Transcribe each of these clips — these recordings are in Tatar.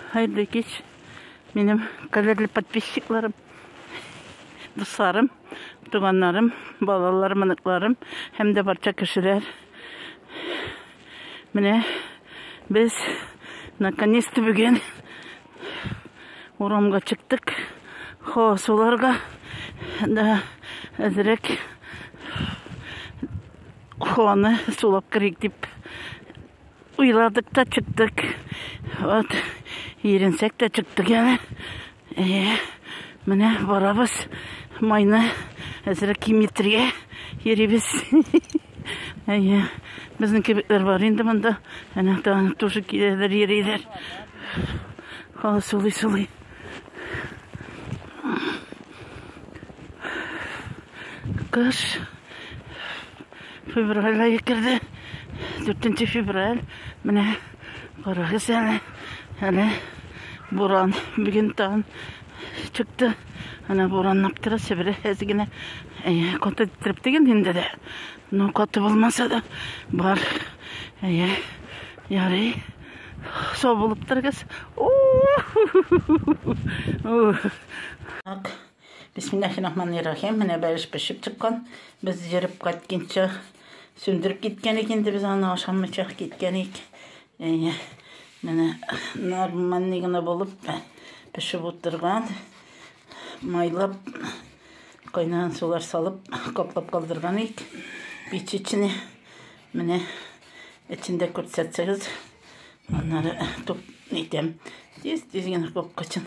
Хәерле кич, минем кадерле подписчикларым, дусларым, туганнарым, балаларым, оныкларым һәм дә барча кешеләр. Менә без наконец-то бүген урамга чыктык. Хо, суларга да әзрәк хоны сулап керик дип Уйладык та чыктык. Вот, еренсәк тә чыктык әле. Әйе, менә барабыз. Майны әзрәк киметергә йөрибез. Әйе, безнең кебекләр бар инде монда. Әнә тагын тоже киләләр, йөриләр. Хала сулый-сулый. Кыш. Февраль айы керде. Дүртенче февраль. Менә карагыз әле. Әле буран. Бүген тагын чыкты. Ана бураннап тора, сибелә әз генә. Әйе, каты иттереп теген инде дә. Ну, каты булмаса да бар. Әйе, ярый. Сау булып торыгыз. Так, Бисмиллахи-рахмани-рахим. Менә бәлеш пешеп чыккан. Без йөреп кайтканча сүндереп киткән ик инде без аны ашамыйча киткән ик. Әйе. Менә нормальный гына булып пешеп утырган. Майлап кайнаган сулар салып каплап калдырган ик. Печечне менә эчендә күрсәтсәгез, аннары туп итәм. Тиз-тиз генә капкачын.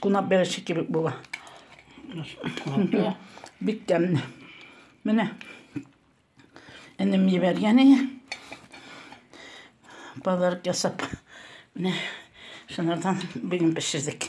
Кунап береше кебек була. Бик тәмле. Менә энем ебәргән иде. Подарок ясап. Менә шунардан бүген пешердек.